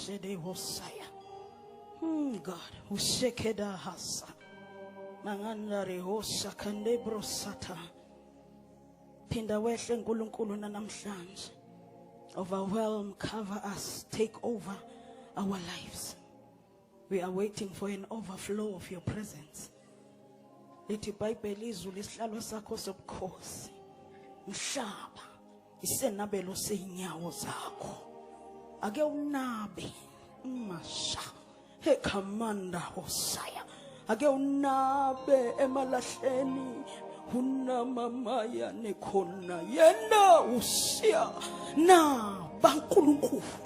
Shede Hosaya. Hmm, God, Ushekeda Hasa. Manganda Rehosa Kandebro Sata. Phinda wehle nkulunkulu nanamhlanje. Overwhelm, cover us, take over our lives. We are waiting for an overflow of your presence. Lithi iBhayibheli izulu isihlalo sakho sobukhosi. Mhlaba isenabelo seyinyawo zakho ake unabe masha he commander hosaya ake unabe emalahleni unamamaya nekhona yena usiya na bankulunkulu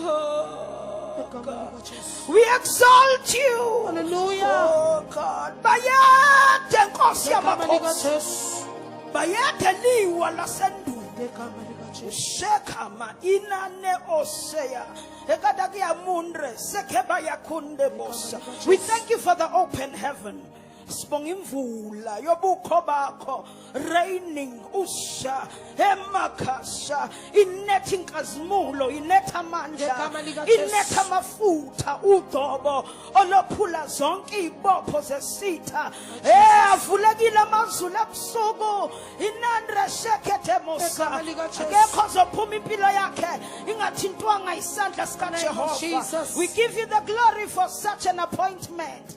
Oh, God. We exalt you. Hallelujah. Oh, God. Bayethe Nkosi yamakhosi. Bayethe liwa lasendulo. Shekama inane osea. Ekadakia mundre sekeba yakunde bosa. We thank you for the open heaven. sibonga imvula yobukho bakho raining usha emakhasha inetha inkazimulo inetha amandla inetha amafutha udobo olophula zonke izibopho zesitha eh avulekile amazulu ebusuku inandra shekethe mosa akekho ozophuma impilo yakhe ingathintwanga isandla sikaJehova we give you the glory for such an appointment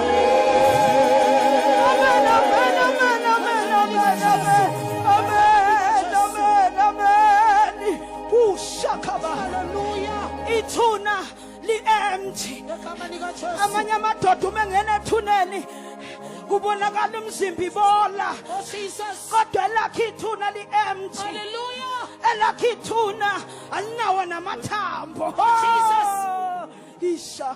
amanye amadoda uma engena ethuneni kubonakala umzimba ibola kodwa elakhe ithuna li-emt elakhe ithuna alinawo namathambo isha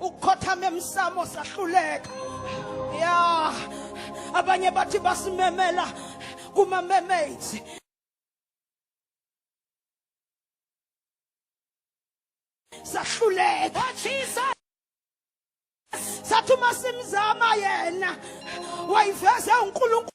ukukhothama emsamo sahluleka ya abanye bathi basimemela kuma mermaids sahluleka oh, sathi uma simzama yena wayiveze uNkulunkulu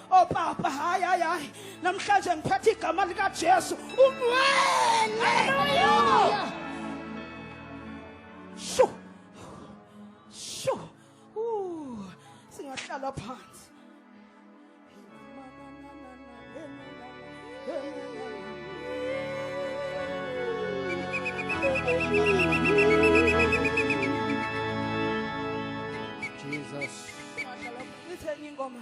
Oh Baba, hayi hayi hayi. Namhlanje ngiphatha igama lika Jesu. Ungcwele. Hallelujah. Sho. Sho. Uh, singahlala phansi. Jesus. Ngithenge ingoma.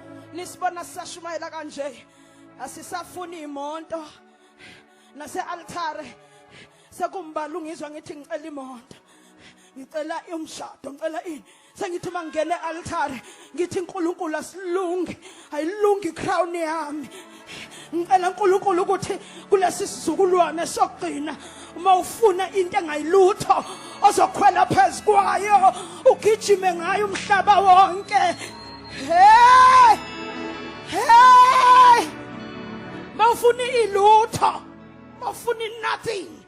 nisibona sisashumayela kanje asisafuni imonto nase-altare sekumbala ungizwa ngithi ngicela imonto ngicela umshado ngicela ini sengithi uma ngingena e-altare ngithi unkulunkulu asilungi ayilungi i-crown yami ngicela uNkulunkulu ukuthi kulesi sizukulwane sokugcina uma ufuna into engayilutho ozokhwela phezu kwayo ugijime ngayo umhlaba wonke hey hey mawufuna ilutho mawufuna nothing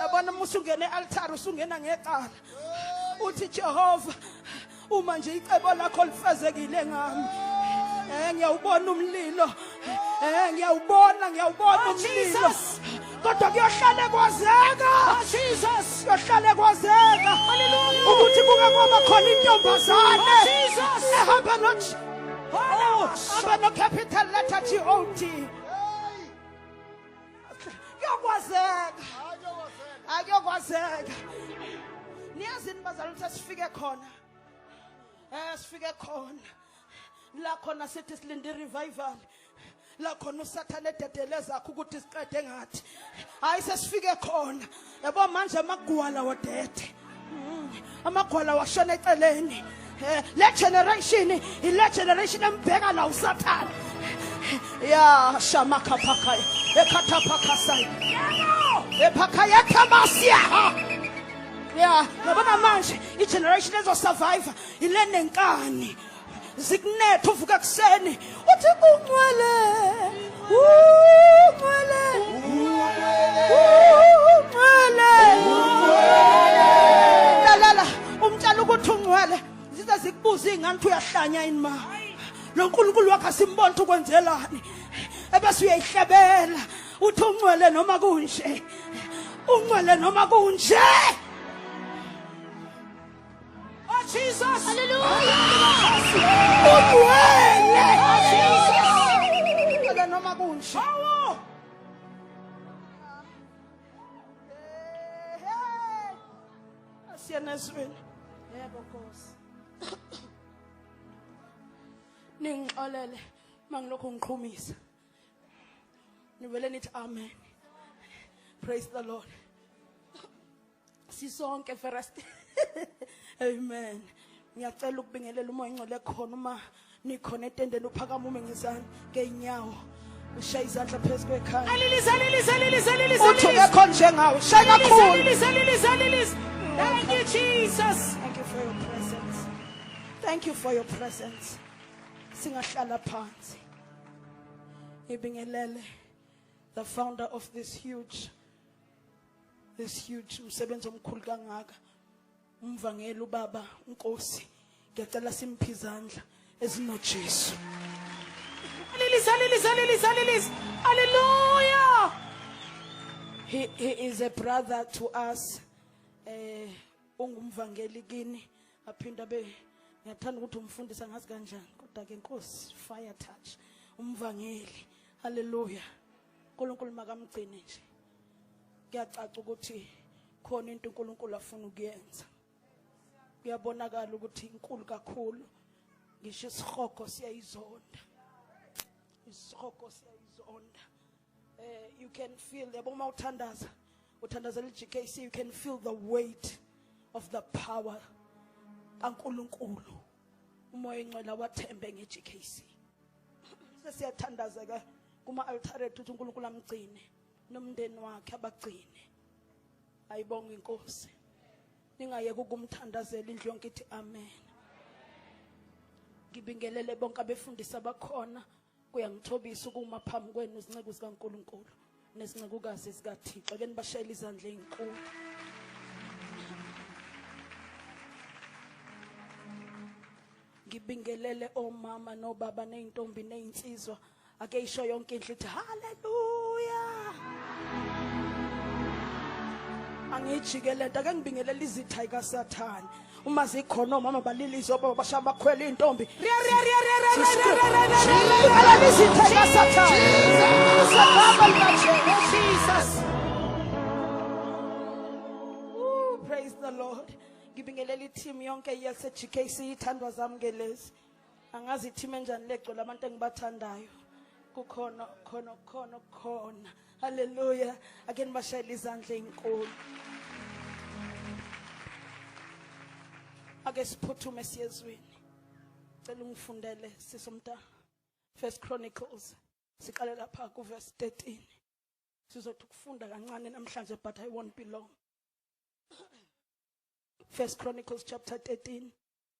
yabona uma usungena e-altare usungena ngecala uthi jehova uma nje icebo lakho lifezekile ngami um ngiyawubona umlilo Eh ngiyawubona ngiyawubona oh, umlilo. Kodwa kuyohlale kwazeka. Oh, Jesus kuyohlale kwazeka. Hallelujah. Ukuthi kuke kwaba khona intombazane. Oh, Jesus ehamba nothi. Oh, aba no capital letter G O T. Kuyokwazeka. Akuyokwazeka. Niyazini bazalwane sifike khona. Eh sifike khona. la khona sithi silinde revival la khona usathane ededele zakho ukuthi siqede ngathi hayi sesifike khona yabo manje amagwala wodede mm, amagwala washona eceleni eh, le generation ile generation embheka la usathane ya shamakhaphakhayo ekhathaphakhasayo ephakhayo ekhamasiyaha ya yabona manje igeneration ezosurvive yile nenkani zikunetha uvuka kuseni uthi uncwele uncwele uncwele lalala umtshela ukuthi uncwele zize zikubuza iy'ngane ukuthi uyahlanya yini ma lo nkulunkulu wakhe asimbona ukuthi ukwenzelani ebese uyayihlebela uthi uncwele noma kunje uncwele noma kunje Oh Jesus! Kodwa noma kunje. Asiyena ezweni. Yebo Nkosi. Ningixolele mangilokho ngiqhumisa. Nivele nithi amen. Praise the Lord. sisonke first amen ngiyacela ukubingelela umoya ingcwele khona uma nikhona etendeni uphakama ume ngezani ngey'nyawo ushaye izandla phezu kwekhaya uthi kekho njengawo shaye kakhulu Thank you, Jesus. Thank you for your presence. Thank you for your presence. Singahlala phansi. Ibingelele the founder of this huge this huge umsebenzi omkhulu kangaka umvangeli ubaba unkosi ngiyacela simphi izandla ezinojesu alilisa alilisa alilisa alilisa haleluya he, he is a brother to us eh ungumvangeli kini aphinda be ngiyathanda ukuthi umfundisa ngazi kanjani kodwa ke nkosi fire touch umvangeli haleluya uNkulunkulu makamgcine nje kuyacaca ukuthi khona into uNkulunkulu afuna ukuyenza kuyabonakala ukuthi inkulu kakhulu ngisho isihogo siyayizonda isihogo siyayizonda eh you can feel yabo uma uthandaza uthandazela iGKC you can feel the weight of the power kaNkuluNkulu umoya ingcwela wathembe nge-GKC sesiyathandazeka kuma-altare ethu ukuthi unkulunkulu amgcine nomndeni wakhe abagcine ayibonga inkosi ningayeki ukumthandazela indlu yonke ithi amen ngibingelele bonke abefundisi abakhona Kuyangithobisa ukuma phambi kwenu izinceku zikaNkulunkulu nezincekukazi zikaThixo ke nibashayela izandla ezinkulu. Ngibingelele omama nobaba nezintombi nezinsizwa ake isho yonke indlu ithi haleluya. Angijike lento ake ngibingelele izitha ikaSathane. uma zikhona omama balilise obaba bashaya bakhwela iy'ntombi praise the lord ngibingelela i-team yonke yase-gkc ithandwa zami ngelezi angazi ithima enjani legcwele abantu engibathandayo kukhona khona khona khona haleluya ake nibashayele izandla ezinkulu ake siphuthume siyezweni cela ungifundele sisomntana first chronicles siqale lapha kuverse 13 sizothi ukufunda kancane namhlanje but i won't be long first chronicles chapter 13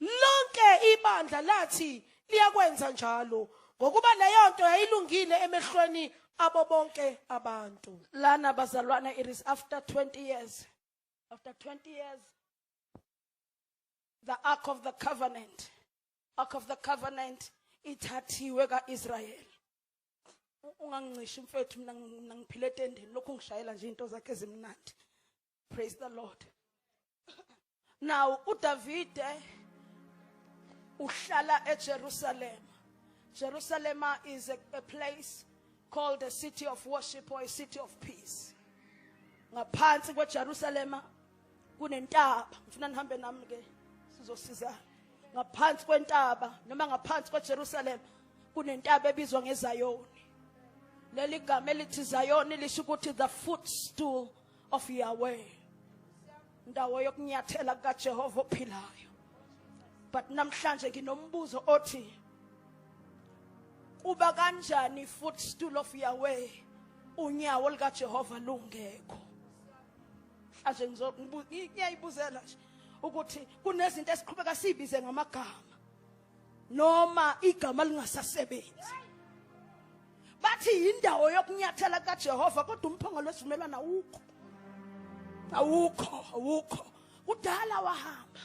Lonke ibandla lathi liyakwenza njalo ngokuba leyo nto yayilungile emehlweni abo bonke abantu. Lana bazalwane it is after 20 years. After 20 years the ark of the covenant ark of the covenant ithathiwe kaIsrael. Ungangincishi mfethu mina mina ngiphile etendeni lokhu ngishayela nje into zakhe ezimnandi. praise the lord now udavide uhlala ejerusalema jerusalema is a, a place called the city of worship or a city of peace ngaphansi kwejerusalema kunentaba ngifuna nihambe nami ke sizosizana ngaphansi kwentaba noma ngaphansi kwejerusalema kunentaba ebizwa ngezayoni leli gama elithi zayoni lisho ukuthi the footstool of Yahweh ndawo yokunyathela kukaJehova ophilayo but namhlanje nginombuzo othi kuba kanjani footstool of Yahweh unyawo likaJehova lungekho mhlawumbe ngizokubuzela nje ukuthi kunezinto esiqhubeka sibize ngamagama noma igama lingasasebenzi bathi yindawo yokunyathela kaJehova kodwa umphongolo wesivumelwano awukho awukho awukho kudala wahamba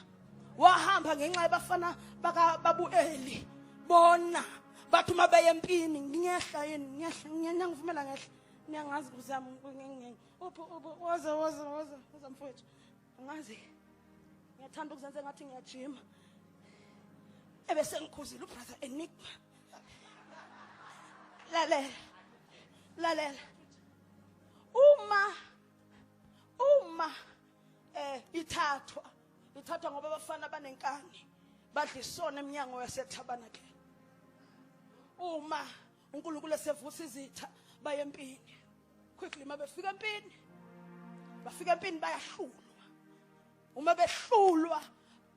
wahamba ngenxa yabafana bakababueli bona bathi uma beye empini ngiyehla yini ngiyehla ngiyangivumela ngehla niyangazi kuzami uphi uphi woza woza woza woza mfowethu angazi ngiyathanda ukuzenza ngathi ngiyajima ebese ngikhuzile ubrother enigma lalela lalela uma uma eh ithathwa ithathwa ngoba abafana abanenkani badla isona eminyango yasethabanakleni uma uNkulunkulu esevusa izitha bayempini quickly uma befika empini bafika empini bayahlulwa uma behlulwa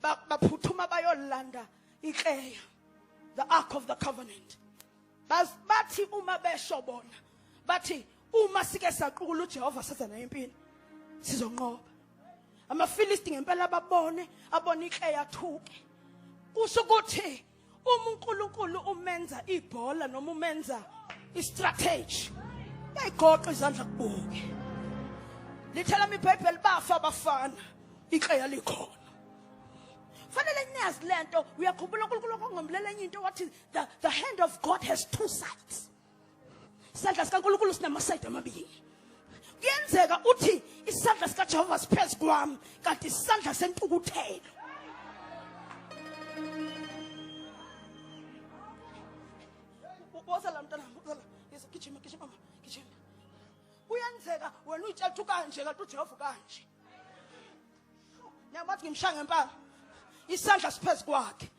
baphuthuma bayolanda ikleya the ark of the covenant bathi uma besho bona bathi uma sike saqukula uJehova setha naye impini sizonqoba amafilisti ngempela babone abone ikleya thuke kusho ukuthi Uma uNkulunkulu umenza ibhola noma umenza istrategy bayigoqa izandla kubuke. Lithela iBhayibheli bafa abafana ikheya likhona. Fanele niyazi lento uyakhumbula uNkulunkulu okongomlela enye into wathi the, the hand of God has two sides. isandla sikaNkulunkulu sinamasayidi amabili kuyenzeka uthi isandla sikaJehova siphezu kwami kanti isandla sentukuthelo bosala mntana bosala yeso gijima gijima mama gijima kuyenzeka wena uyitshela ukuthi kanje kanti uJehova kanje ngiyabathi ngimshaya ngempama isandla siphezu kwakhe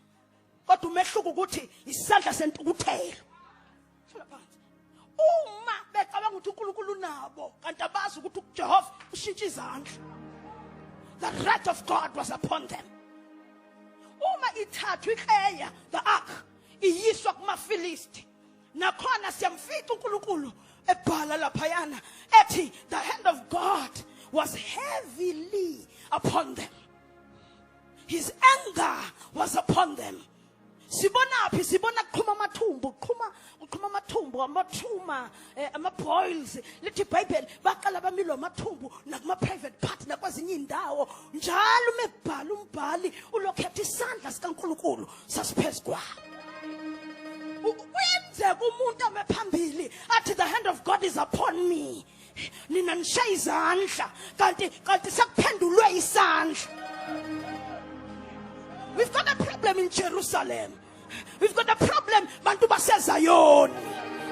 kodwa umehluko ukuthi isandla sentukuthelo uma becabanga ukuthi uNkulunkulu unabo kanti abazi ukuthi uJehova ushintsha izandla the wrath of God was upon them uma ithathwa ikleya the ark iyiswa kumafilisti nakhona siyamfica uNkulunkulu ebhala laphayana ethi the hand of God was heavily upon them his anger was upon them sibonaphi sibona kuqhuma amathumbu uqhuma uqhuma amathumbu amathuma eh, ama-boils lithi ibhayibheli baqala bamilwa amathumbu nakuma-private part nakwezinye iy'ndawo njalo uma ebhala umbhali ulokhetha isandla sikankulunkulu sasiphezu kwabo kuyenzeka umuntu ame phambili athi the hand of god is upon me nina nishaya izandla kanti kanti sekuphendulwe isandla we've got a problem in jerusalem we've got a problem bantu basezayoni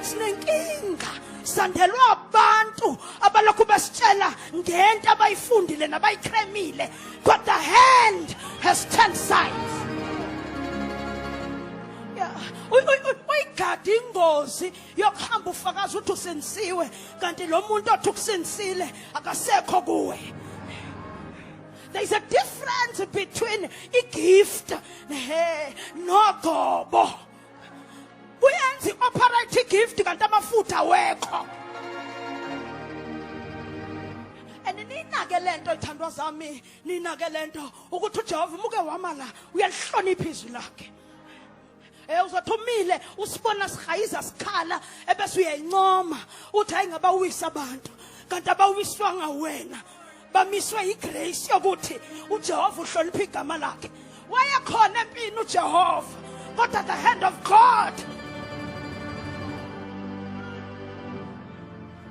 sinenkinga sandelwa abantu abalokhu besitshela ngento abayifundile nabayikremile but the hand has turned sides uyigadi ingozi yokuhamba ufakaza ukuthi usindisiwe kanti lo muntu othi ukusindisile akasekho kuwe there is a difference between igift nogobo kuyenza i-operate igift kanti amafutha wekho and ninake le nto lithandwa zami ninake le nto ukuthi ujehova umuke wama la uyalihlonipha izwi lakhe Eh uzothi umile usibona sihayiza sikhala ebese uyayincoma uthi hayi ngabawisa abantu kanti abawiswanga wena bamiswe yigrace yokuthi uJehova uhlonipha igama lakhe wayekhona empini uJehova kodwa the hand of God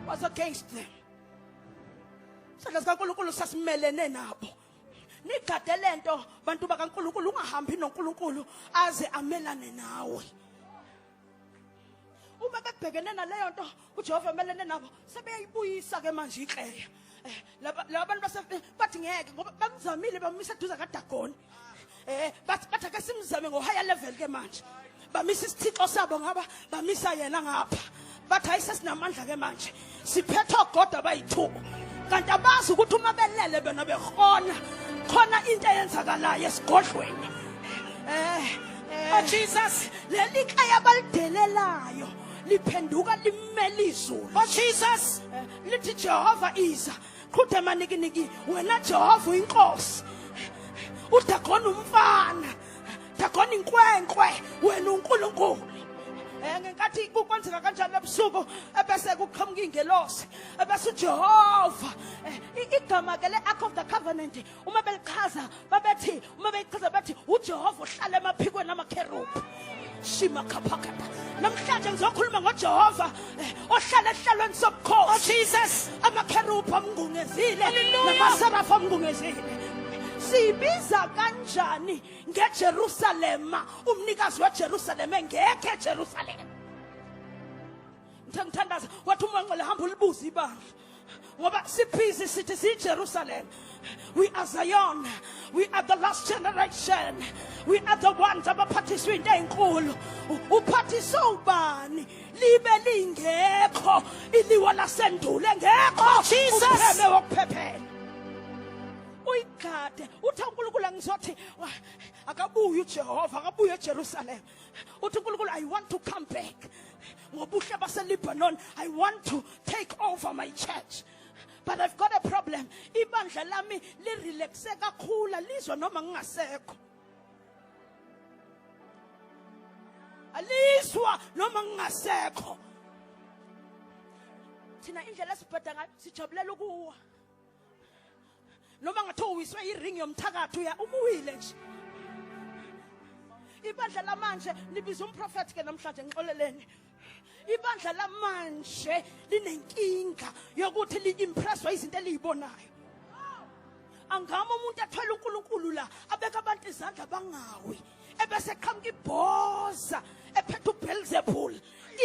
was against them. Sadla sikaNkulunkulu sasimelene nabo. nigade le nto bantu bakankulunkulu ungahambi nonkulunkulu aze amelane nawe uma bebhekene naleyo nto ujehova emelene nabo sebeyayibuyisa ke manje ikleya um eh, laba bantu bathi ngeke ngoba bamzamile bamisa eduza kadagoni eh bathi bathi ake simzame ngo higher level ke manje bamisa isithixo sabo ngaba bamisa yena ngapha bathi hayi sesinamandla ke manje siphethe ogoda bayi-two kanti abazi ukuthi uma belele bena behona khona into eyenzakalayo esigodlweni eh, eh. Oh, Jesus leli kaya balidelelayo liphenduka limele izulu oh Jesus eh, lithi Jehova iza qhude manikiniki wena jehova uyinkosi udagona umfana dagona inkwenkwe wena unkulunkulu eh, ngenkathi kukwenzeka kanjalo ebusuku ebese kuqhamuka ingelosi ebese ujehova eh, igama ke le-ark of the covenant uma belichaza babethi uma beyichaza bathi uJehova uhlala emaphikweni amakherubhi shima khaphakata namhlanje ngizokhuluma ngoJehova eh, ohlala ehlalweni sobukhosi oh, Jesus amakherubhi amngungezile namaserafu amngungezile sibiza kanjani ngeJerusalema umnikazi weJerusalema engekho eJerusalema ngithe ngithandaza wathi uma ngcela hamba ulibuze ibandla ngoba sibhizi sithi siyijerusalem we are zion we are the last generation we are the ones abaphathiswe into ezinkulu uphathiswe ubani libe lingekho iliwa lasendulo engekho oh, upheme wokuphephela uyigade uthi unkulunkulu angizothi akabuye ujehova akabuye ejerusalema uthi unkulunkulu i want to come back ngobuhle baselibanon i want to take over my church but i've got a problem ibandla lami lirelaxe kakhulu lizwa noma ngingasekho alizwa noma ngingasekho thina indlela esibheda ngayo sijabulela ukuwa noma ngathiwa uwiswe iring yomthakathi uya ubuwile nje ibandla lamanje nibiza umprofethi ke namhlanje ngixoleleni ibandla lamanje linenkinga yokuthi li-impresswa izinto eliyibonayo angama umuntu athwele unkulunkulu la abeka abantu izandla bangawi ebese qhamuka ibhoza ephethe uBelzebul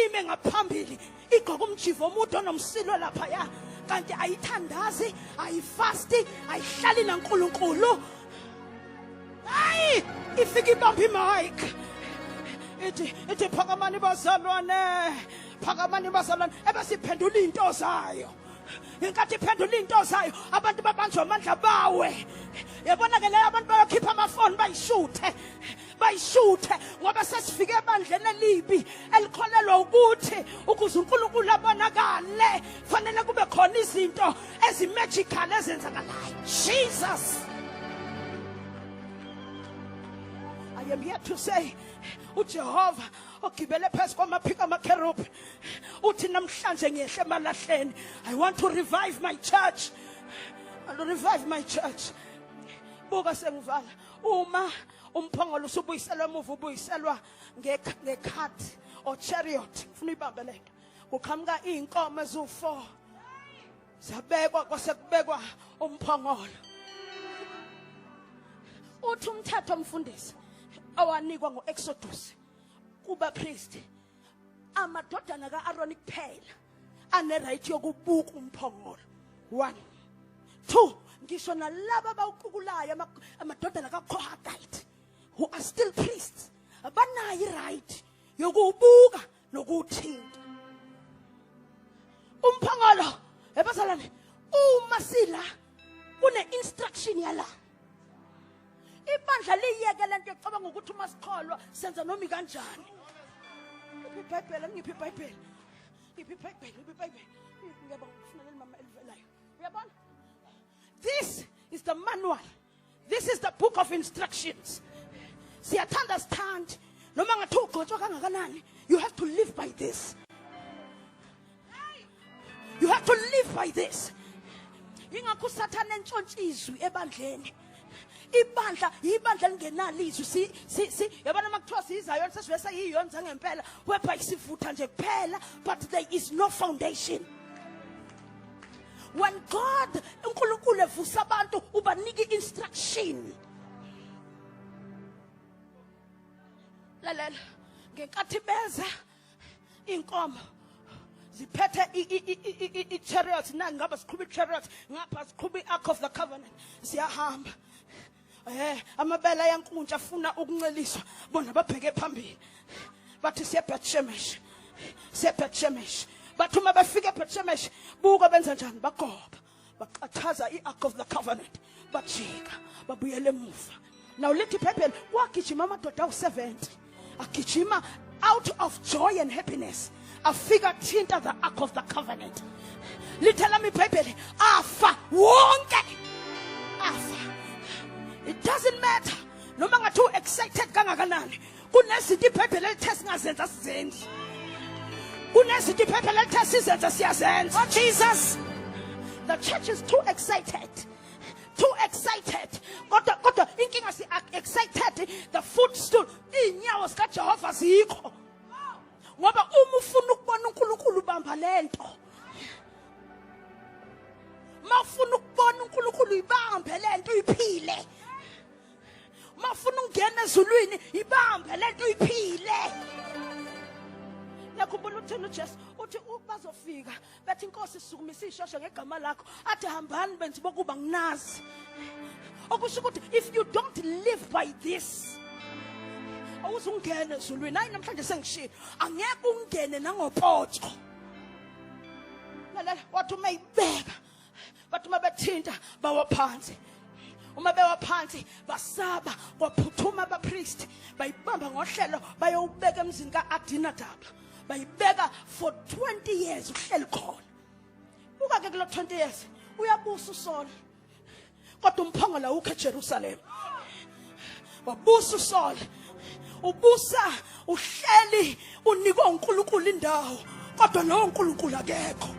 ime ngaphambili igqoka umjivo omude onomsilo lapha ya kanti ayithandazi ayifasti ayihlali naNkulunkulu hayi ifika ibamba imic ithi ithi phakamani bazalwane phakamani bazalwane ebesiphendula into zayo ngenkathi iphendula into zayo abantu babanjwa amandla bawe yabona ke leyo abantu bayokhipha amafoni bayishuthe bayishuthe ngoba sesifike ebandleni elibi elikholelwa ukuthi ukuze uNkulunkulu abonakale fanele kube khona izinto ezimagical ezenzakalayo Jesus I am here to say uJehova ogibele phezu kwamaphiko amakherubhi uthi namhlanje ngiyehle emalahleni i want to revive my church i want to revive my church buka sengivala uma umphongolo usubuyiselwa emuva ubuyiselwa ngekhathi or chariot ngifuna uyibambe le nto kuqhamuka iy'nkomo eziwu-four zabekwa kwase kubekwa umphongolo uthi umthetho omfundisi owanikwa ngo-exodus kubapristi amadodana ka-aroni kuphela anerayithi yokubuka umphongolo one two ngisho nalaba abawuqukulayo amadodana kakohagite who are still priests abanayo iright yokuwubuka nokuwuthinta umphongolo ebazalwane uma sila kune-instruction yala ibandla liyeke lento ecabanga ukuthi uma sikholwa senza noma ikanjani ngiphi ibhayibheli ngiphi ibhayibheli ngiphi ibhayibheli ngiphi ibhayibheli ngiyaba ngifuna leli mama elivelayo uyabona this is the manual this is the book of instructions siyathanda sithandi noma ngathi ugxotshwa kangakanani you have to live by this you have to live by this ingakho usathane entshontsha izwi ebandleni ibandla yibandla lingenalo izwi si si si yabona uma kuthiwa siyizayo sesibe seyiyona zangempela webha isivutha nje kuphela but there is no foundation when god unkulunkulu evusa abantu ubanika i-instruction lalela ngenkathi beza inkomo ziphethe i-chariots na ngaba siqhuba i-chariots ngapha siqhuba i-ark of the covenant siyahamba eh amabele ayankuntsha afuna ukunceliswa bona babheke phambili bathi siyebethshemesh siyebethshemesh bathi uma befika ebethshemesh buka benza njani bagoba baxathaza i-ark of the covenant bajika babuyela emuva naw lithi iphepheni kwagijima amadoda awu-70 agijima out of joy and happiness afika thinta the ark of the covenant lithe lami ibhayibheli afa wonke afa it doesn't matter noma ngathi u-excited kangakanani kunezinto iphephe lelithe singazenza sizenzi kunezinto iphephe lelithe sizenze siyazenza oh jesus the church is too excited too excited kodwa kodwa inkinga si excited the footstool izinyawo zikajehova zikho ngoba uma ufuna ukubona unkulunkulu ubamba le nto uma ufuna ukubona unkulunkulu uyibambe le nto uyiphile mafuna ungena ezulwini ibambe lento uyiphile nakhumbula uthini uJesu uthi bazofika bethi inkosi sukumisa ishosha ngegama lakho athi hambani benzi bokuba nginazi okusho ukuthi if you don't live by this awuzungene ezulwini hayi namhlanje sengishilo angeke ungene nangopoto lalela wathi uma ibeka bathi uma bethinta bawa phansi uma bewa phansi basaba kwaphuthuma abapriest bayibamba ngohlelo bayowubeka emzini ka-adinadaba bayibeka for 20 years uhleli khona buka-ke kulo 20 years uyabusa usona kodwa umphongolo awukho eJerusalem wabusa uSaul ubusa uhleli unikwe uNkulunkulu indawo kodwa lowo uNkulunkulu akekho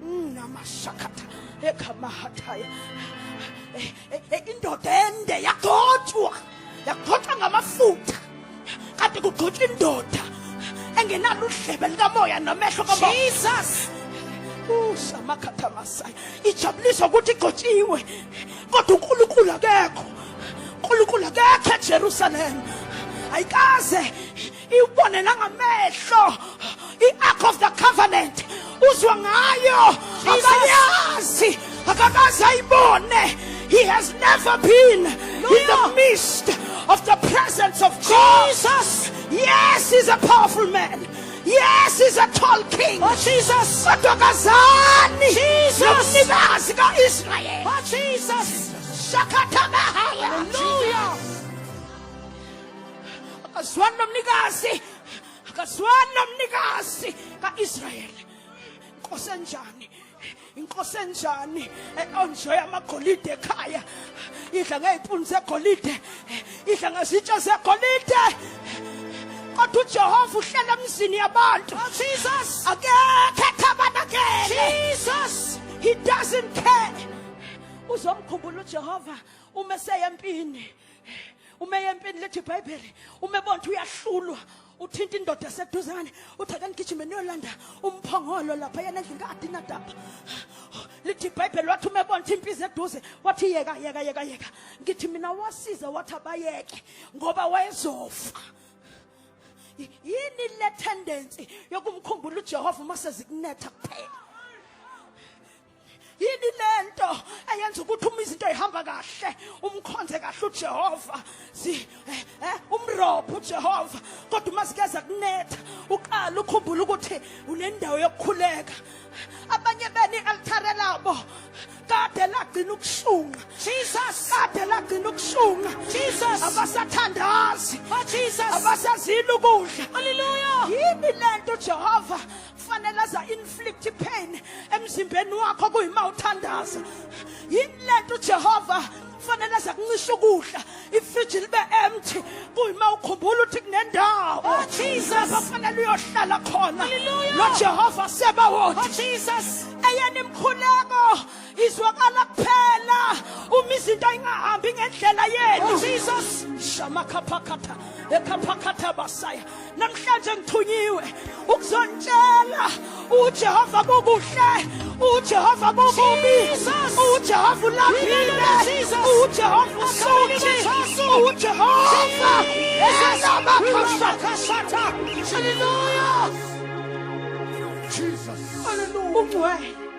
mm, namashakatha ekhamahathaya eh, eh, eh, indoda ende yagothwa yakuphoxa ngamafutha kanti kugxotshwa indoda engenalo udlebe likamoya namehlo kamoya Jesus usamakhathamasaya ijabuliswa ukuthi igxotshiwe kodwa uNkulunkulu akekho uNkulunkulu akekho eJerusalem ayikaze iwubone nangamehlo i-ark of the covenant uzwa ngayo akayazi akakaze ayibone he has never been in the midst of the presence of God. Jesus. Yes, he's a powerful man. Yes, he's a tall king. Oh, Jesus. Kodwa kazani. Jesus. Nomnikazi ka-Israyeli. Oh, Jesus. Shakatha bahaya. Hallelujah. akazwani nomnikazi akazwani nomnikazi ka-israyeli inkosi enjani inkosi enjani onjoya amagolide ekhaya idla ngey'puni zegolide idla ngezitsha zegolide kodwa ujehova uhlela emzini yabantu oh, jesus akekho ethabanakele jesus he doesn't care uzomkhumbula ujehova uma eseyempini uma eyempini lethi ibhayibheli uma ebona ukuthi uyahlulwa uthinta indoda eseduzane uthi ake ngigijime niyolanda umphongolo lapha yena endlini ka-adinadaba lithi ibhayibheli wathi uma ebona ukuthi impizi eduze wathi yeka yeka yeka yeka ngithi mina wasize wathi abayeke ngoba wayezofa yini le tendency yokumkhumbula ujehova uma sezikunetha kuphela yini lento eyenza ukuthi uma izinto ihamba kahle umkhonze kahle uJehova si eh, eh umrobho uJehova kodwa uma sikeza kunetha uqala ukhumbula ukuthi unendawo yokukhuleka abanye beni altare labo kade lagcina ukushunqa Jesus kade lagcina ukushunqa Jesus abasathandazi oh Jesus abasazini ukudla haleluya yini lento Jehova kufanele aza inflict pain emzimbeni wakho kuyima uthandaza yini lento uJehova kufanele aza kuncisha ukudla ifridge libe empty kuyima ukhumbula ukuthi kunendawo oh, Jesus kufanele uyohlala khona lo Jehova seba wothi oh, Jesus eyena imkhuleko izwakala kuphela uma izinto ayingahambi ngendlela yenu oh. jesus shamakhaphakhatha ekhaphakhatha basaya namhlanje ngithunyiwe ukuzontshela ujehova kukuhle ujehova kukubi ujehova ulaphile ujehova usuthi ujehova esabakhashakhashatha haleluya jesus haleluya ungcwele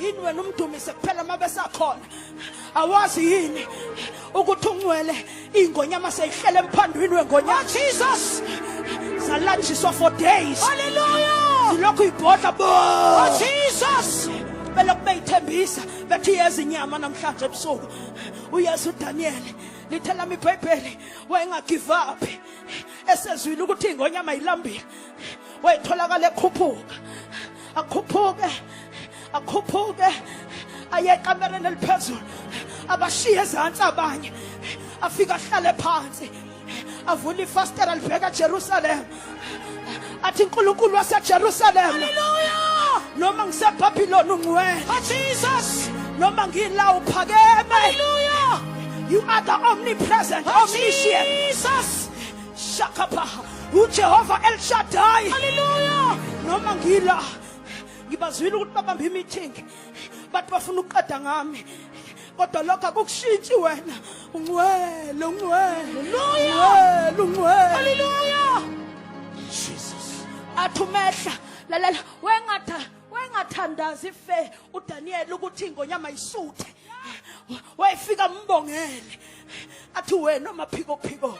yini wena umdumise kuphela uma besakhona awazi yini ukuthi ungcwele iy'ngonyama seyihlele emphandwini wengonyama oh, jesus zalanjiswa for days haleluya zilokhu ibhodla bo oh, jesus belokhu beyithembisa bethi yeza inyama namhlanje ebusuku uyesu udaniyeli lithe lami ibhayibheli wayengagive uphi esezwile ukuthi ingonyama yilambile wayetholakala ekhuphuka akhuphuke akhuphuke aye ekamereni eliphezulu abashiye ezantsi abanye afike ahlale phansi avule ifastela libheka ejerusalema athi unkulunkulu wasejerusalema noma ngisebhabhiloni ungcwele oh, noma ngila uphakeme you are the omnipresent omniscient Shakapa, uJehova El Shaddai. Hallelujah. Noma ngila ngibazwile ukuthi babambe i-meeting bathi bafuna ukuqeda ngami kodwa lokho akukushintshi wena ungcwele ungcwele ungcwele ungcwele haleluya jesus athi umehla lalela wengatha wengathandazi ife udaniyeli ukuthi ingonyama isuthe wayefika mbongele athi wena maphikophiko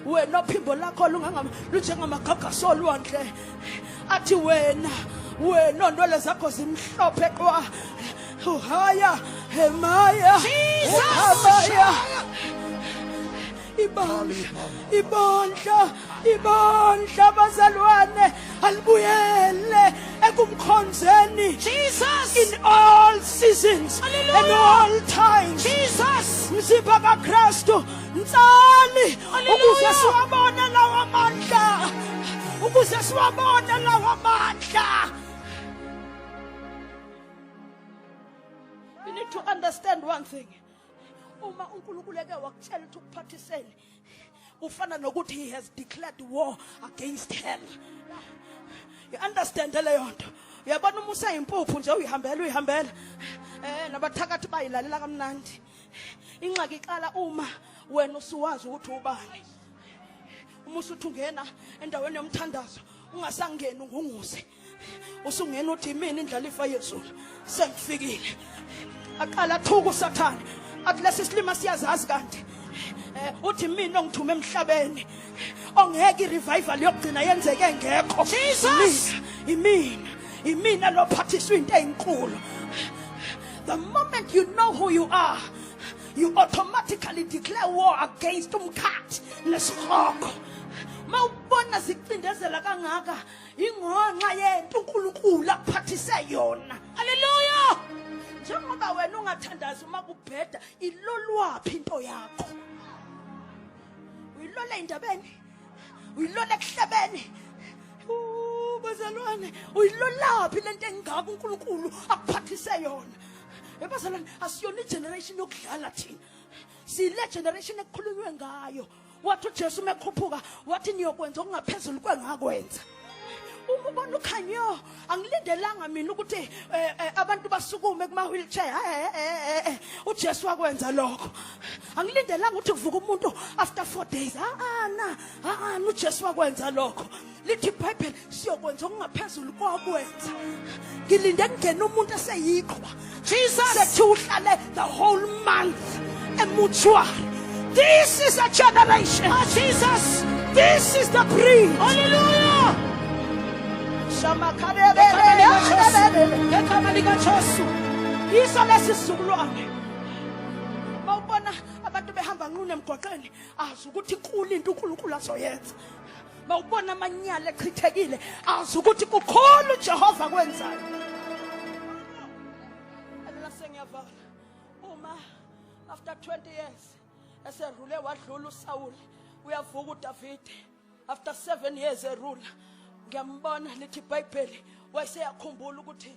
wena ophimbo lakho lunjengamagagasi olwandle athi wena wena ontwele zakho zimhlophe qwa uhaya hemaya uhamaya ibandla ibandla ibandla bazalwane alibuyele ekumkhonzeni Jesus in all seasons Hallelujah. and all times Jesus mzimba kaKristu ntsali ukuze siwabone lawo amandla ukuze siwabone lawo amandla You need to understand one thing. Uma uNkulunkulu eke wakutshela ukuthi ukuphathiseni, kufana nokuthi he has declared war against hell you understand leyo nto uyabona uma useyimpuphu nje uyihambela uyihambela eh nabathakathi bayilalela kamnandi inxaki iqala uma wena usuwazi ukuthi ubani uma usuthi ungena endaweni yomthandazo ungasangeni ungunguse usungena uthi imini indlalifa yezulu sengifikile aqala athuka usathane athi lesi silima siyazazi kanti eh, uthi mina ongithume emhlabeni ongeke i-revival yokugcina yenzeke ngekho Jesus imina imina lophathiswa into eyinkulu the moment you know who you are you automatically declare war against umkhathi nesihogo mawubona zicindezela kangaka ingonxa yento uNkulunkulu akuphathise yona haleluya njengoba wena ungathandazi uma kubheda ilolwaphi into yakho uyilola indabeni uyilola ekuhlebeni bazalwane uyilolaphi lento engaka uNkulunkulu akuphathise yona ebazalwane asiyona igeneration yokudlala thina sile generation ekukhulunywe ngayo wathi uJesu mekhuphuka wathi niyokwenza okungaphezulu kwengakwenza uma ubona ukhanyo angilindelanga mina ukuthi eh, eh, abantu basukume kuma wheelchair eh, uJesu wakwenza lokho angilindelanga ukuthi kuvuka umuntu after 4 days ha ana ha ana uJesu wakwenza lokho lithi ibhayibheli siyokwenza okungaphezulu kokwenza ngilinde kungena umuntu eseyiqhwa jesus sethi uhlale the whole month emutuary this is a generation oh, jesus this is the breed hallelujah ngegama likajesu yiso lesi sizukulwane mawubona abantu behamba nqunu emgwaqeni azi ukuthi kulinto unkulunkulu azoyenza mawubona amanyala echithekile azi ukuthi kukhona uJehova akwenzayo mina sengiyavala uma after 20 years eserule wadlula uSawule uyavuka uDavide after 7 years erula ngiyambona lithi iBhayibheli wayeseyakhumbula ukuthi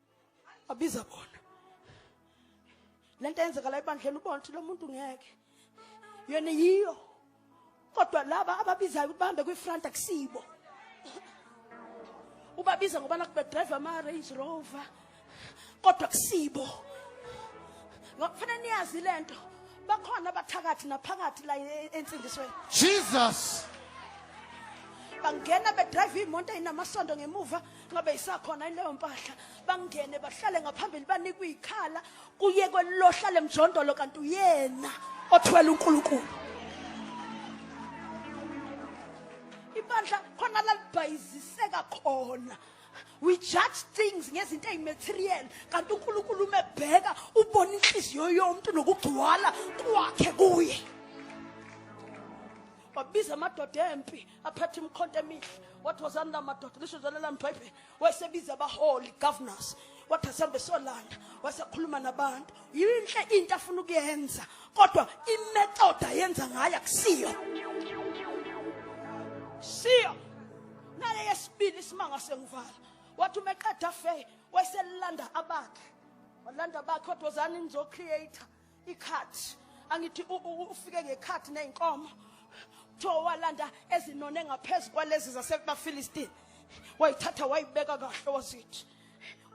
abiza bona lento yenzeka la ebandleni ubona ukuthi lo muntu ngeke yona yiyo kodwa laba ababizayo ukuthi bahambe kwi-front akusibo ubabiza ngoba nakubedrive ama-range rover kodwa kusibo kufanele niyazi le nto bakhona abathakathi naphakathi la e-, ensindisweni jesus bangena bedrive imoto ayinamasondo ngemuva ngabe isakhona ileyo mpahla bangene bahlale ngaphambili banikwa ikhala kuye kwelohlale mjondolo kanti uyena othwele uNkulunkulu ibandla khona lalibhayiziseka khona we judge things ngezinto ezimaterial kanti uNkulunkulu umebheka ubona inhliziyo yomuntu nokugcwala kwakhe kuye wabiza amadoda empi aphethe imikhonto emihle wathi wozani la madoda lisho zona la mbhayibheli wayesebiza abaholi governors wathi asambe solanda wasekhuluma nabantu yinhle into afuna ukuyenza kodwa imetoda yenza ngayo akusiyo siyo nale yesibili isimanga sengivala wathi uma eqeda fe wayeselanda abakhe walanda abakhe kodwa wozani nizocreator ikhathi angithi ufike ngekhathi nezinkomo kuthiwa walanda ezinone ngaphezu kwalezi zasebafilistini wayithatha wayibeka kahle wazithi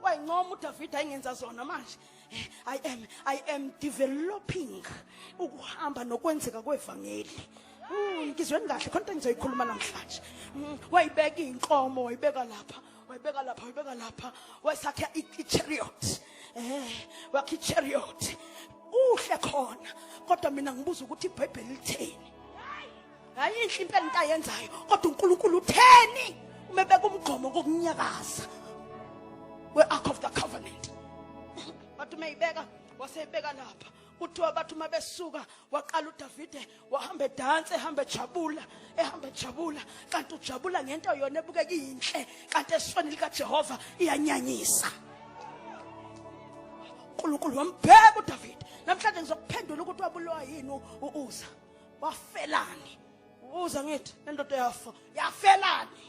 wayincoma udavida ayingenza zona manje i am i am developing ukuhamba nokwenzeka kwevangeli hmm, ngizweni kahle khona into engizoyikhuluma namhlanje hmm, wayibeka iy'nkomo wayibeka lapha wayibeka lapha wayibeka lapha wayisakhe i-chariot eh wakhe i-chariot uhle khona kodwa mina ngibuza ukuthi ibhayibheli litheni hayi inhle impela into ayenzayo kodwa unkulunkulu utheni uma ebeka umgqomo kokunyakaza we-ark of the covenant wathi uma ibeka waseyibeka lapha kuthiwa bathi uma besuka waqala udavide wahamba edansa ehamba ejabula ehamba ejabula kanti ujabula ngento yona ebukeka iyinhle kanti esweni likajehova iyanyanyisa unkulunkulu wambheka udavide namhlanje ngizokuphendula ukuthi wabulowa yini uuza wafelani uza ngithi nendoda yafa yafelani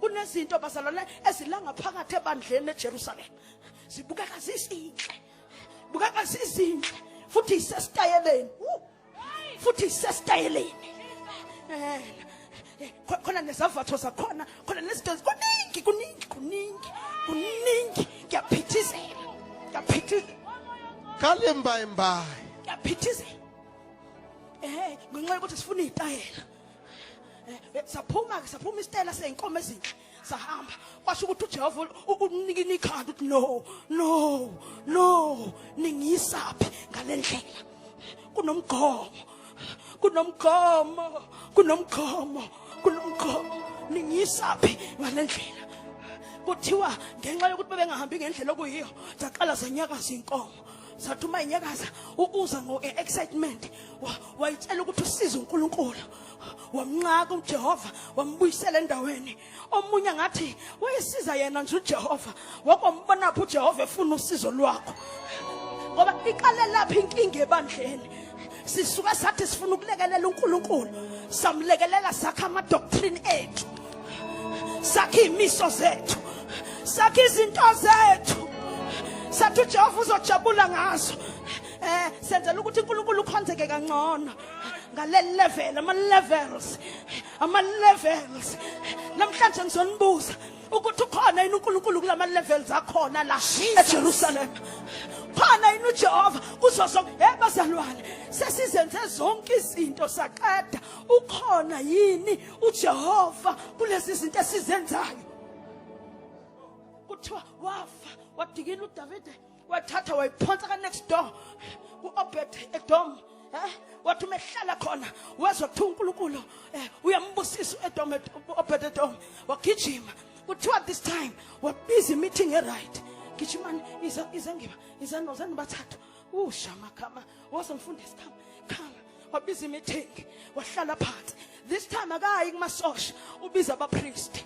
kunezinto bazalwane ezilanga phakathi ebandleni eJerusalem zibukeka zizinhle bukeka zizinhle futhi isesitayeleni futhi sesitayeleni eh, eh, khona nezavatho zakhona khona nezinto kuningi kuningi kuningi kuningi ngiyaphithizela ngiyaphithizela kale mbayi mbayi ngiyaphithizela eh ngenxa yokuthi sifuna izitayela eh, saphuma ke saphuma isitayela seyinkomo ezinhle sahamba kwasho ukuthi ujehova unikini ikhanda ukuthi no no no ningiyisaphi ngale ndlela kunomgqomo kunomgqomo kunomgqomo kunomgqomo ningiyisaphi ngale ndlela kuthiwa ngenxa yokuthi bebengahambi ngendlela okuyiyo zaqala zanyakaza inkomo sathi uma inyakaza uza ngo-excitement wayitshela ukuthi usize unkulunkulu wamnqaka uJehova wambuyisela endaweni omunye ngathi wayesiza yena nje uJehova wakombona phu uJehova efuna usizo lwakho ngoba iqale lapha inkinga ebandleni sisuka sathi sifuna ukulekelela uNkulunkulu samlekelela sakha ama doctrine ethu sakha imiso zethu sakha izinto zethu sathi uJehova uzojabula ngazo eh senzela ukuthi uNkulunkulu ukhonzeke kangcono ngale level ama levels ama levels namhlanje ngizonibuza ukuthi ukhona yini uNkulunkulu kulama levels akhona la eJerusalem khona yini uJehova kuzo zonke hey bazalwane sesizenze zonke izinto saqeda ukhona yini uJehova kulezi zinto esizenzayo kuthiwa wafa wadikila uDavide wathatha wayiphonsa ka next door ku-obed edom eh wathi uma ehlala khona wezwa kuthiwa unkulunkulu eh, uyambusisa u-edom obed edom wagijima kuthiwa this time wabiza imeeting eright gijimani iza iza ngiba iza nozani bathathu ushama khama wozomfundisi khama khama wabiza imeeting wahlala phansi this time akayi kumasosha ubiza abapriest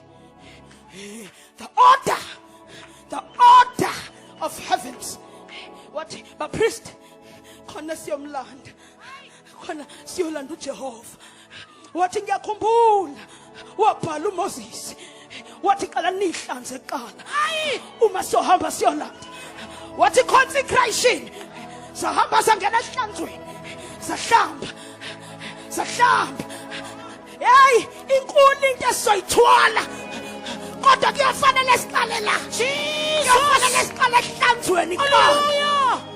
the order the order of heavens wathi bapriest khona siyomlanda khona siyolanda ujehova wathi ngiyakhumbula wabhala uMoses wathi qala nihlanze kuqala hayi uma sohamba siyolanda wathi consecration sahamba sangena ehlanzweni sahlamba sahlamba hey inkulu into esizoyithwala kodwa kuyafanele siqale la kuyafanele siqale ehlanzweni kuqala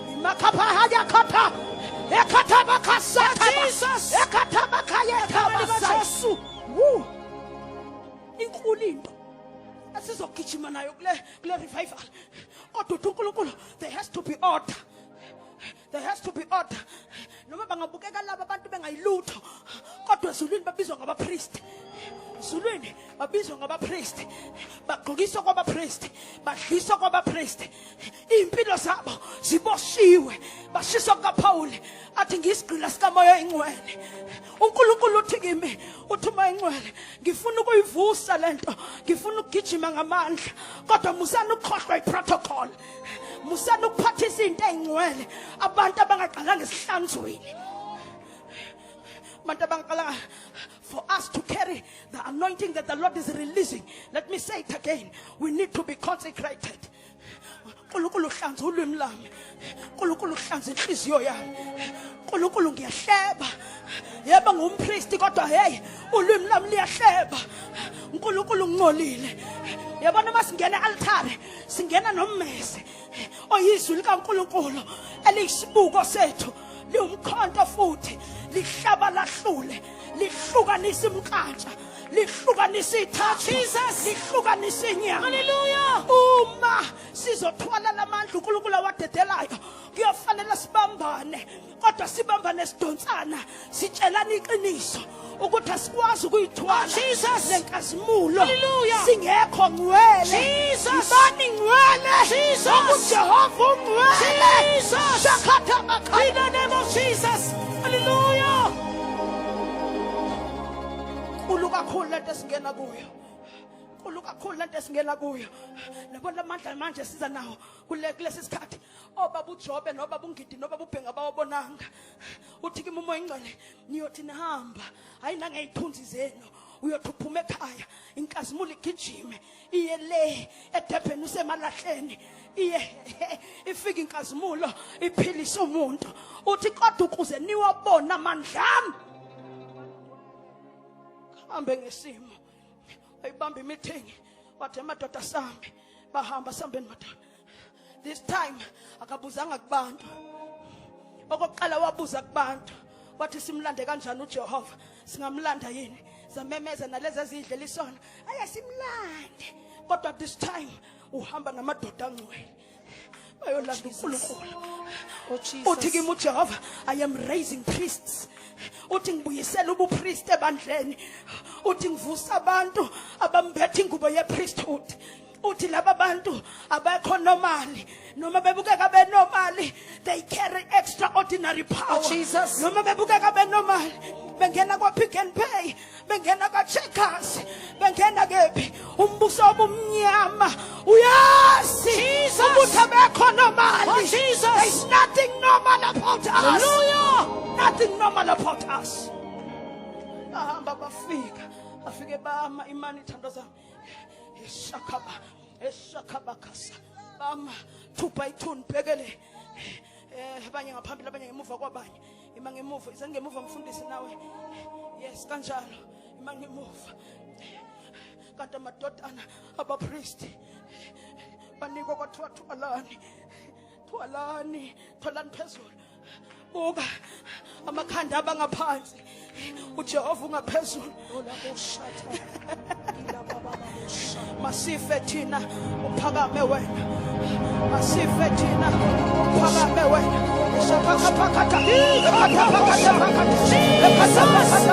inkulu into esizogijima nayo kule kule revival kodwa uthi uNkulunkulu there has to be order there has to be order noma bangabukeka laba abantu bengayilutho kodwa ezulwini babizwa ngabapriest ezulwini babizwa ngabapriest bagqokiswa kwabapriest badliswa kwabapriest iy'mpilo zabo ziboshiwe bashiswa kukaphawuli athi ngiyisigqila sikamoya ingcwele unkulunkulu uthi kimi uthi uma ingcwele ngifuna ukuyivusa le nto ngifuna ukugijima ngamandla kodwa musani ukukhohlwa iprotocol musani ukuphathisa into ey'ngcwele abantu abangaqalanga esihlanzweni abantu abangaqalanga for us to carry the anointing that the Lord is releasing. Let me say it again. We need to be consecrated. nkulunkulu hlanza ulwimi lami nkulunkulu hlanza inhliziyo yami nkulunkulu ngiyahleba yebo ngumpristi kodwa heyi ulwimi lami liyahleba unkulunkulu uncolile yabona uma singena altare singena nommese oyizwi likankulunkulu eliyisibuko sethu liwumkhonto futhi lihlaba lahlule lihlukanisa imnkantsha lihlukanisa ithathu lihlukanisa inyama uma sizothwala lamandla unkulunkulu awadedelayo kuyofanele sibambane kodwa sibambane sidonsana sitshelana iqiniso ukuthi asikwazi ukuyithola oh, lenkazimulo singekho ngcwele ibani ngcwele okujehova ungcwele shakhatha makhainenemojesusalleluya nkulu kakhulu lento esingena kuyo nkulu kakhulu lento esingena kuyo nabo lamandla manje siza nawo kulesi sikhathi obaba uJobe nobaba uNgidi nobaba uBhenga bawabonanga uthi kimi umoya ingcwele niyothi nihamba hayi nangey'thunzi zenu uyothi uphuma ekhaya inkazimulo igijime iye le edebheni usemalahleni iye ifika inkazimulo iphilisa umuntu uthi kodwa ukuze niwabona amandla ami hambe ngesimo ayibamba imithingi wathi amadoda sambe bahamba sambeni madoda this time akabuzanga kubantu okokuqala wabuza kubantu wathi simlande kanjani uJehova singamlanda yini zamemeza nalezi ezidlela isona aye simlande kodwa this time uhamba namadoda angcwele bayolanda uNkulunkulu oh, uthi kimi uJehova i am raising priests uthi ngibuyisela ubupriest ebandleni uthi ngivusa abantu abambethe ingubo yepriesthood uthi laba bantu abekho normally noma bebukeka benormally they carry extraordinary power oh, Jesus. noma bebukeka benormally bengena kwa-pick and pay bengena kwa-checkers bengena kephi umbuso obumnyama uyazi ukuthi abekho normally oh, there's nothing normal about us Hallelujah. nothing normal about us bahamba bafika afike bama imani ithando zami Eshakaba, eshakaba kasa. Bama, two by two, nibhekele. Eh, abanye ngaphambili, abanye ngemuva kwabanye. Ima ngemuva, izani ngemuva ngifundise nawe. Yes, kanjalo. Ima ngemuva. Kanti amadodana abapristi banikwa kwathiwa thubalani thwalani thwalani phezulu buka amakhanda abangaphansi ujehova ungaphezulu masife thina uphakame wena masife thina uphakame wena usaphakaphakatha ephakaphakatha ephakaphakatha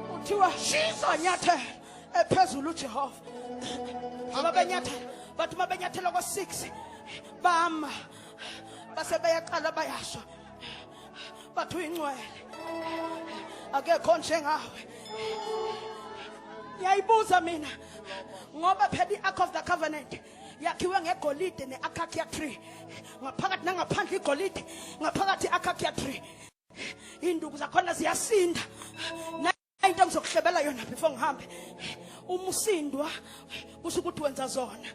kuthiwa banyathela ephezulu ujehova ngoba benyathela bathi uma benyathela ko-six bama base beyaqala bayasho bathi uyingcwele akekho njengawe ngiyayibuza mina ngoba phela i-ark of the covenant yakhiwe ngegolide ne-akakia tree ngaphakathi nangaphandle igolide ngaphakathi i-akakia tree induku zakhona ziyasinda into engizokuhlebela yona before ngihambe uma usindwa kusho ukuthi wenza zona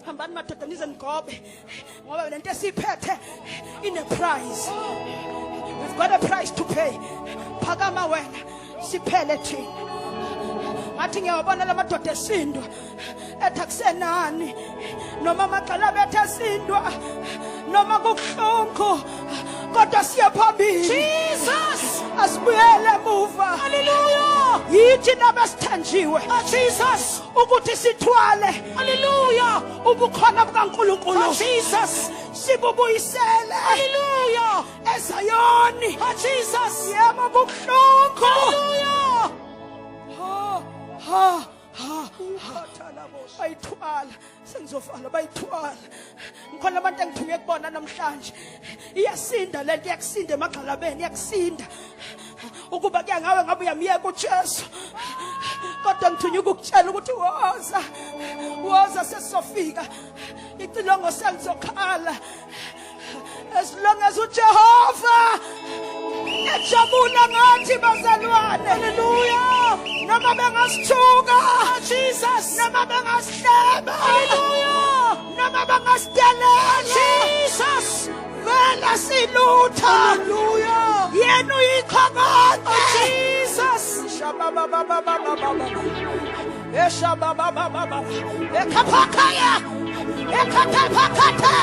hambani madoda nize nigobe ngoba le nto esiyiphethe ine-price we've got a price to pay phakama wena siphele thina ngathi ngiyawabona la madoda esindwa ethi akusenani noma amagxala bethu esindwa noma kubuhlungu kodwa siye phambili jesus asibuyele emuva haleluya yithi nabesithenjiwe oh, jesus ukuthi sithwale haleluya ubukhona bukankulunkulu oh, jesus sibubuyisele haleluya ezayoni oh, jesus yebo kubuhlungu haleluya ha ha ha ukhathalabosha bayithwala sengizofala bayithwala ngikhona abantu engithuke kubona namhlanje iyasinda lento iyakusinda emagxalabeni iyakusinda ukuba kuya ngawe ngabe uyamyeka uJesu kodwa ngithunywa ukukutshela ukuthi woza woza sesizofika icilongo selizokhala As long as uJehova ejabula ngathi bazalwane. Hallelujah. Noma bengasithuka. Oh, Jesus. Noma bengasihleba. Hallelujah. Noma bangasidelela. Jesus. Vela silutha. Hallelujah. Yena uyikhokode. Oh, Jesus. Shababa baba baba baba. Eshababa baba baba. Ekhaphakaya. Ekhaphakaya.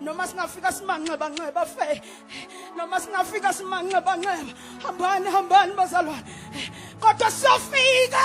noma singafika simanxeba nxeba fe noma singafika simanxeba nxeba hambani hambani bazalwane kodwa siyofika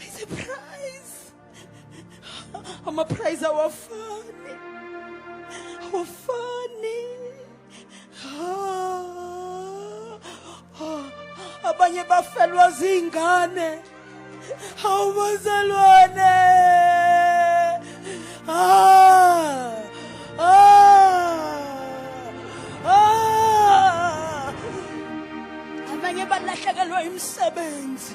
It's a prize. I'm a prize our funny. Our funny. Ah, ah, abanye bafelwa zingane awubazalwane ah, ah, ah. abanye balahlekelwa imisebenzi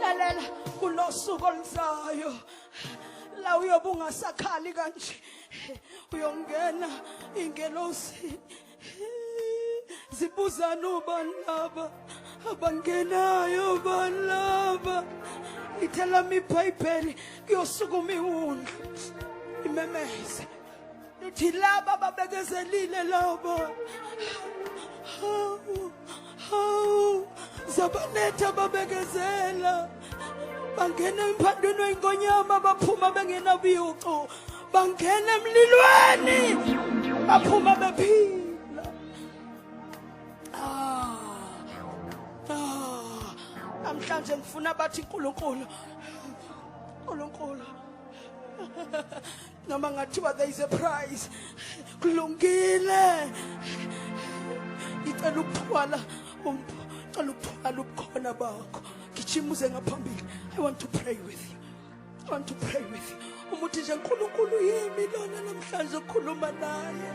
lalela kulosuku oluzayo la uyobe ungasakhali kanje uyongena ingelosi zibuzana ubani laba abangenayo bani laba ithelama ibhayibheli kuyosukuma iwundlu imemeze Nithi laba babekezelile lobo. Hawu. Hawu. Zabanetha babekezela. Bangena emphandweni wenkonyama baphuma bengenabiyuqo. Bangena emlilweni. Baphuma bephila. namhlanje ngifuna bathi uNkulunkulu uNkulunkulu noma ngathiwa there is a price kulungile ngicela ukuthwala um, ngicela ukuthwala ubukhona bakho gijima uze ngaphambili i want to pray with you i want to pray with you umuthi nje nkulunkulu yimi lona namhlanje okhuluma naye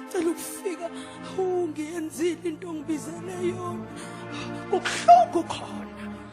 ngicela ukufika ungiyenzile into ongibizele yona kubuhlungu khona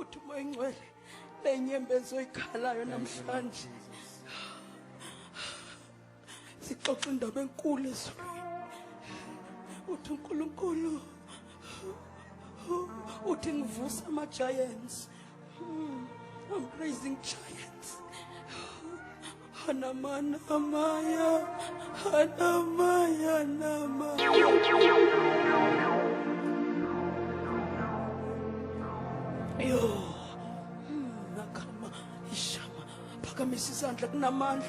uthi umoya ingcwele lenyembezi oyikhalayo namhlanje sixoxa indaba enkulu ezulwini uthi unkulunkulu uthi ngivusa ama-giants Oh, praising giants. Hanamana Maya, Hanamaya Nama. Yo, hmm, nakama ishama phakamisa isandla kunamandla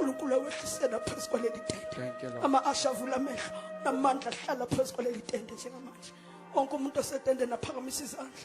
uNkulunkulu awehlisela phezu kwaleli tende ama asha avula amehlo namandla ahlala phezu kwaleli tende njengamanje wonke umuntu osetendeni aphakamisa izandla